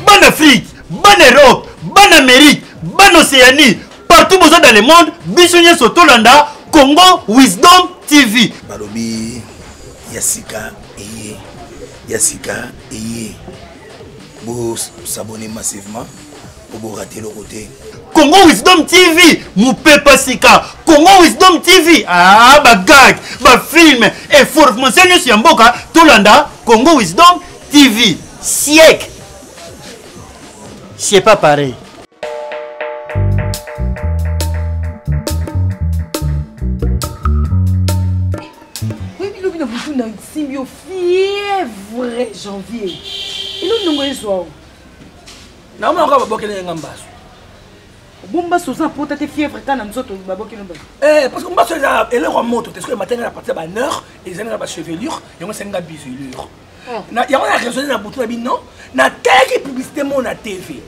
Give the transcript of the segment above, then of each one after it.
bana afrique bana europe bana amérique bana océanie partout boza dans le monde biso nyonso tolanda congo wisdom tv balobi ya sika eye ya sika eye bosabone massivement koboka te eloko te congo wisdom tv mopepa sika congo wisdom tv ah, bagag bafilme information nyonso ya mboka tolanda congo wisdom tv siècle c'est pas pareil nasimbi yo fievre janvier ino ndongo ezwa o Na mona ko baboke na nga mbasu. Bomba soza pota te fièvre kana nzoto baboke na mbasu. Eh parce que mbasu eza eloko moto te soki matenga na partir ba nerf ezali na ba chevelure yango senga bisulure. Ah. Na yango na raisonner na butu na bino na teki publicité mo na TV.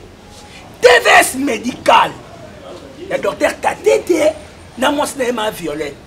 TVS médical. Ya docteur Katete na mwasi na ye ma Violette.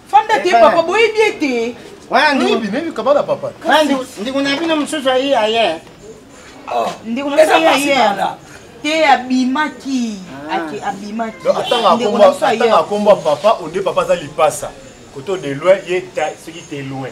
fanda te papa boyebi ye te wana ndikokabana papa ndiko na bino mosusu aye aye oh. ndiko na bino aye te abimaki ah. ake abimaki atanga akomba papa onde papa aza lipasa koto de loin ye soki te loin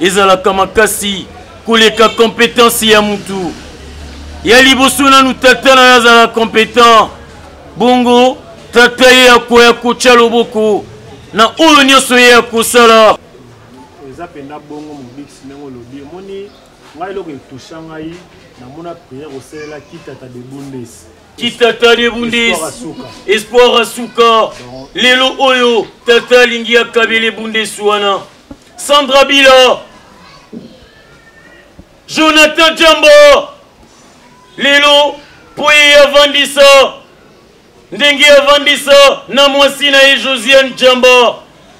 ezalaka makasi koleka competence ya mutu ya liboso nanu tata na yo azala competent bongo tata ye akoya kotya loboko na oyo nyonso ye akosala eza mpenza bongo mobikisi ndenge olobi omoni ngai eloko etusha ngai namona priere kosalela kitata de bundes kitata de bundes espoir asuka lelo oyo tata alingi akabele bundes wana Sandra Bila, Jonathan Jamba, lelo mpo ye avandisa ndenge avandisa na mwasi na ye josiane jamba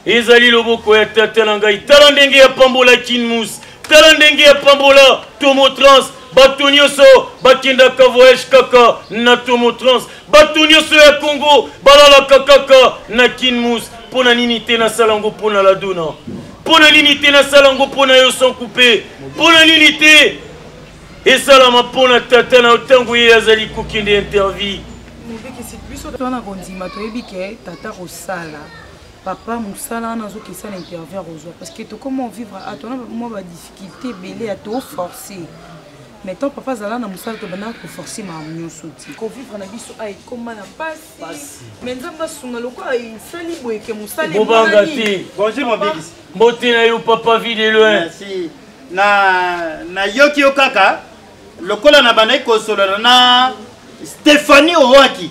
ezali loboko ya tata na ngai tala ndenge apambola kinmus tala ndenge apambola tomotrans bato nyonso bakendaka voyage kaka na tomotrans bato nyonso ya congo balalaka kaka na kinmus mpo na nini te nasala yango mpo na ladona mpo na nini te nasala yango mpo na yo sans coupe mpo na nini te esalama mpo na tata na yo ntango ye azali kokende intervie mobikisi biso twana kondima toyebi ke tata kosala papa mosala wana azokisa na interview akozwa parce que tokoma vivre atona mwa badisi kite ebele ya to force mais tant papa azala na mosala tobandaka koforce makambo nyonso ti kovivre na biso a ekoma na mpasi mais nzambe asunga lokola esali boyeke mosalebobanga te bonjour mobikisi mbote na yo papa vie de loin na nayoki yo kaka lokola nabandaki kosolola na stéphanie owaki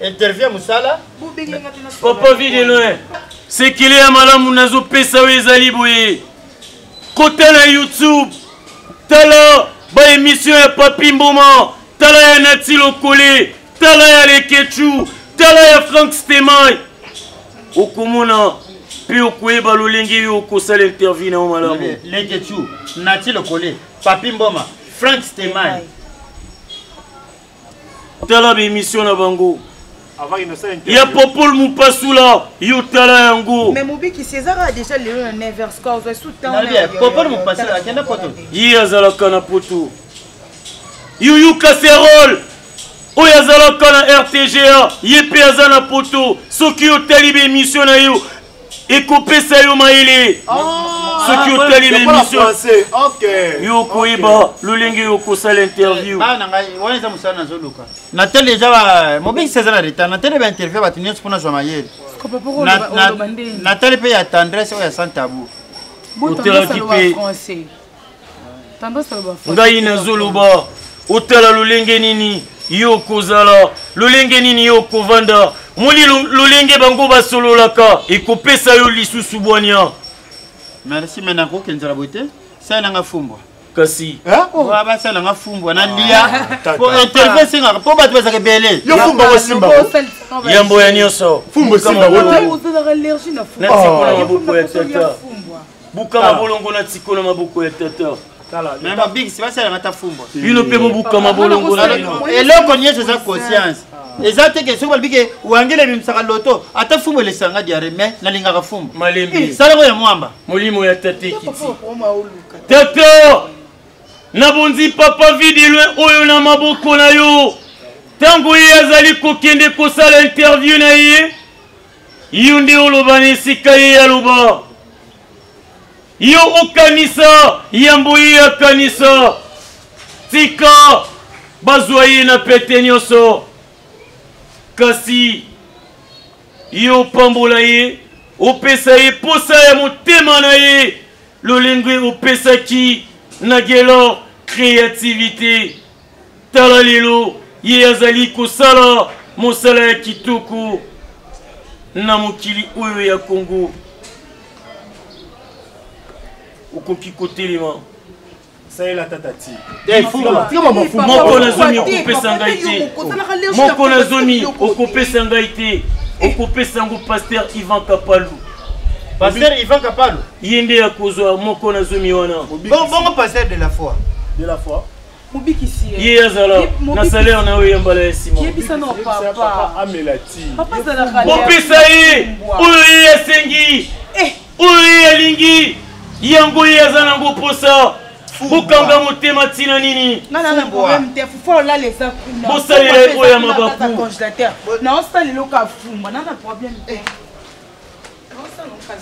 interview mosala papa vie de loin sekele ya malamu nazopesa oyo ezali boye kota na youtube tala baemisio ya papi mboma tala ya nati lokole tala ya lekechu tala ya frank stemay okomona mpe okoyeba lolenge yo okosala interview na yo malamu lekechu nati lokole papi mboma frank stemay tala baemission na bango ya popol mopasula yo tala yango mais mobikisi eza kaka déjà lelo na 9 heures score ozwa sous temps popol mopasula akenda poto ye azalaka na poto yuyu caserole oyo azalaka na rtga ye mpe aza na poto soki otali baemission na yo ekopesa yo mayele ah, soki otali bemission yo okoyeba lolenge yo okosala interview natali deja mobengisi aza na retard natali bainterview ya bato nyonso mpo nazwa mayele natali mpe ya tendresse oyo ya santabu otelaki mpe ngai nazoloba otala lolenge nini yo okozala lolenge nini yo okovanda moli lolenge bango basololaka ekopesa yo lisusu bwania merci me nakokenzela boye te salelanga fumbwa kasi ah, oh. basalanga fumbwa na lia ah, po intervie esengaka mpo bato bazaka ebele yambo ya nyonso bukama bolongo na tiko na maboko ya tata mabikisi basalaka ta fumba bino mpe bobukama bolongo na bino eloko nyonso eza conscience eza te ke soki balobi ke wangela ebimisaka loto ata fumbu elesanga diare mai nalingaka fumbu malembe salako ya mwamba molimo ya tate ekiti tata nabonzi papa vidilwe oyo na maboko na yo ntango ye azali kokende kosala interview na ye Yo nde oloba na esika ye aloba. Yo okanisa yambo ye akanisa. Tika bazwa ye na pete nyonso. Kasi yo opambola ye, opesa ye posa ya motema na ye, lolenge opesaki na Guelor creativite. Tala lelo ye azali kosala mosala ya kitoko na mokili oyo ya Congo. Okoki kotelema. salela tata ti moko na zomi okopesa ngai te moko na zomi okopesa ngai te okopesa yango paster ivan kapalu paster ivan kapalu ye nde akozwa moko na zomi wana bongo paster de la foi de la foi mobikisi ye ye azala na salaire na yo ya mbala ya nsimabopesa ye oyo ye asengi eh. oyo ye alingi yango ye aza nango mposa bokanga motema ntina nini bosalela ye oyo ya mabaku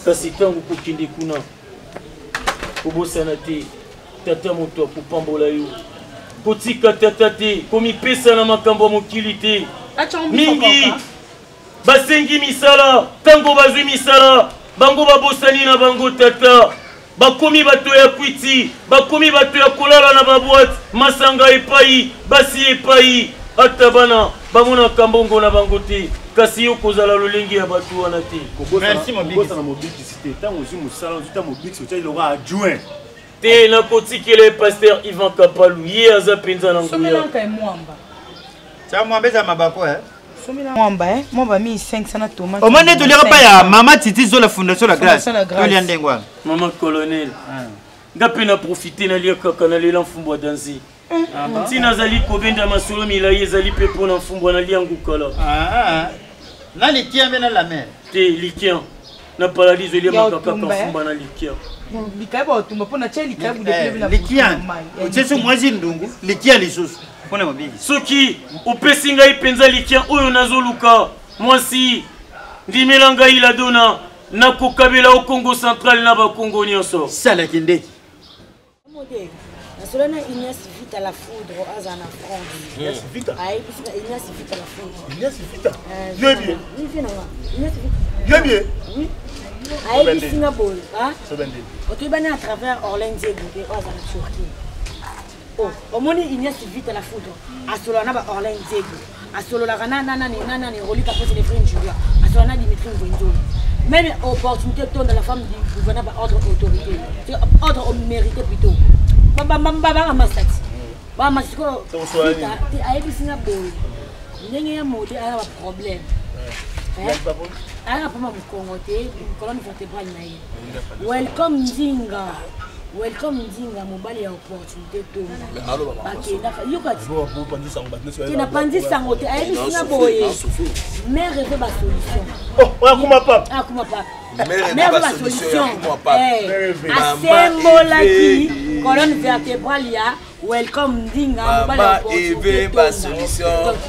kasi ntango kokende kuna kobosana te tata moto ya kopambola yo kotika tata te komipesa na makambo ya mokili te mingi basengi misala ntango bazwi misala bango babosani na bango tata bakomi bato ya kwiti bakomi bato ya kolala na babwate masanga epai basi epai ata bana bamonaka mbongo na bango te kasi yo kozala lolenge ya bato wana te kobosana mobikisi te ntango ozwi mosala ozwi ta mobikisi otya eloko adjoint te nakotikela ye paster ivan kapalu ye aza mpenza na nguya tya mwamba eza mabako eh? mwamba eh? mwamba mi 500 na tomate omoni nde toliaka mpa ya mama titi zola fondation la grace tolia ndenge wana mama colonel ah. nga mpe na profite nalia kaka nalela mfumbwa danzi ntina azali kobenda masolo milai ezali mpe mpo na mfumbwa na liangu kala ah, na likia mpe na lamer te likia na paradiso eliamaka kaka mfumba na likia likia baotumba mpo na tya likia budekilia otyesi mwasi ndungu likia lisusu mpo na mabiki soki opesi ngai mpenza likia oyo nazoluka mwasi ndimela ngai ladona nakokabela o congo central na bakongo nyonso salaki ndeki nasolo na ignace vita la foudre aza na franceignace vita la foudreignace vita yebie yebie ayebisi nga boye otoyebani à travers orlin diego mpe oyo aza na turquie omoni ignace vita la foudre asola na ba orlin diego asololaka na na nani na nani rolika pose les frères julia asololaka na dimitri nzonzolo même opportunité tonda la femme du gouverneur ba ordre autorité c'est ordre au mérité plutôt ba ba ba ba ba masati ba masati ko ayebisi nga boye ndenge ya mode aya ba problème aya pama mokongo te colonne vertébrale na ye welcome nzinga welcome nzinga mobali ya opportunité napanzi sango te ayebisi na boye mare mpe basolution asembolaki colonne vertébrale ya welcome ndinga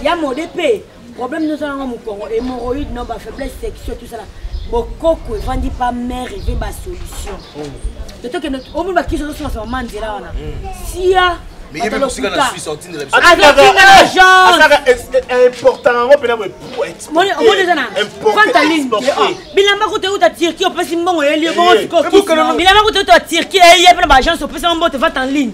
ya mode mpe problème nyonso yango mokongo hémorroïde non ba faiblesse sexuelle tout ça là bokoko evandi pa mère eve ba solution te tokende omoni bakisi ozosolasa mama nzela wana sia bilamba kuta euta turquie opesi mbongo yeli bongo sikobilamba kuta euta turquie eye mpe na baagence opesi yango mbote vate en ligne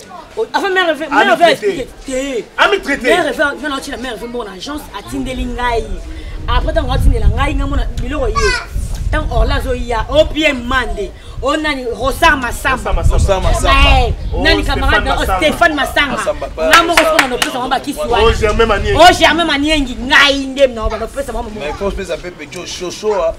avant mère reve mère reve expliquer te ami traité mère reve nga na tina mère reve mbongo na agence atindeli ngai après tango atindela ngai nga mona biloko ye tango orla azoya opm mande o nani rosar masamba nani camarade na stéphane masanga nga moko sona nopesa bango bakisi wana o germain maniengi ngai nde na banopesa bango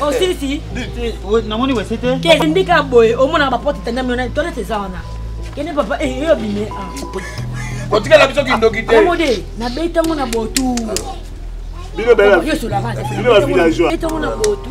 osilisi namoni wese te kendi ka boye omonaka baporte etandami wana toilette eza wana kende papa eh, eyo bime kotikela biso kindoki te omode nabetango na botu bino bela bino ba villageois betango na botu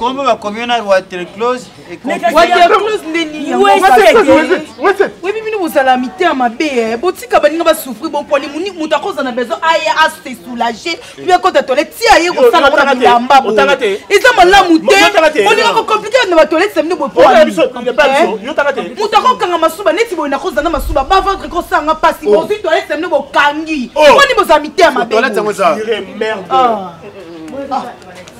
kombo bakomi yo na waterclose webi bino bozala mitema mabe eh. botika baninga basouffri bomponi moto akozala na besoin aya ase soulage obi akota tole tia ye kosala yango na bilamba bo eza malamu te olinga kokomplike na batolete na bino bomoto eh? akokanga masuba neti boye nakozala na masuba baventre kosanga mpasi oh. bozwi tolete na bino bokangi oh. moni bozala mitema mabe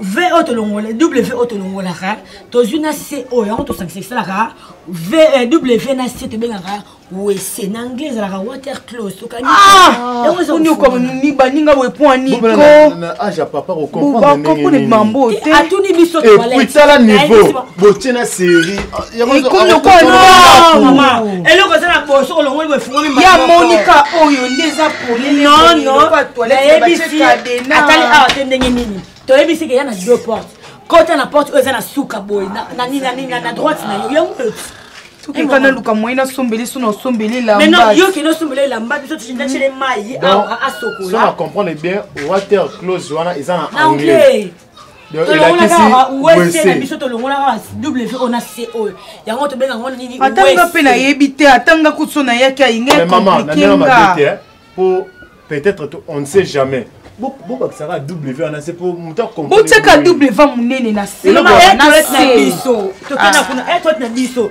v oyo tolongola w oyo tolongolaka tozwi na c oyo yango tosangisa esalaka v eh, w na c tobengaka wese na anglais ezalaka water close okaniokomi baninga boye mpo anikobakokone mambo te atuni biso tala niveau botie na serie eloko eza na boso olongoli boye fungoli ya monika oyo nde eza nonoatali awa te ndenge nini toyebisi ke ya na deux porte kota na porte oyo eza na suka boye na droite na yo yango eka naluka moyen nasombeli so nasombeli elambayoki nosombeli elamba biso tindacele mai awa asokola comprendre bien water close wana eza na anglais atanga mpe nayebi te atanga kuso nayaki ayingakomplikenga peut-être on ne sait jamais bobakisaka w wana se po moto botyaka w monene na se na biso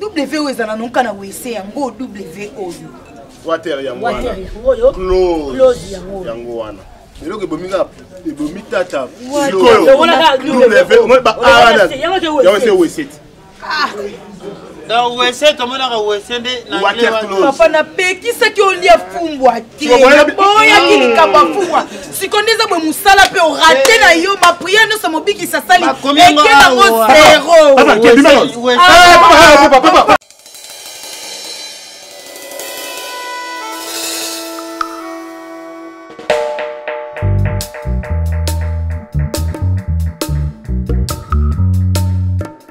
wvo eza na nonka na wese yango wvo oyo water yango wana close yango wana eloko ebomi kaka ebomi tata sikoyoyawese weseti donc wese tomonaka wese nde papa napekisaki olia fumbwa boyaki likambo afuwa siko nde eza boye mosala mpe orate na yo bapriere nyonso mobikisi asali ekebango zero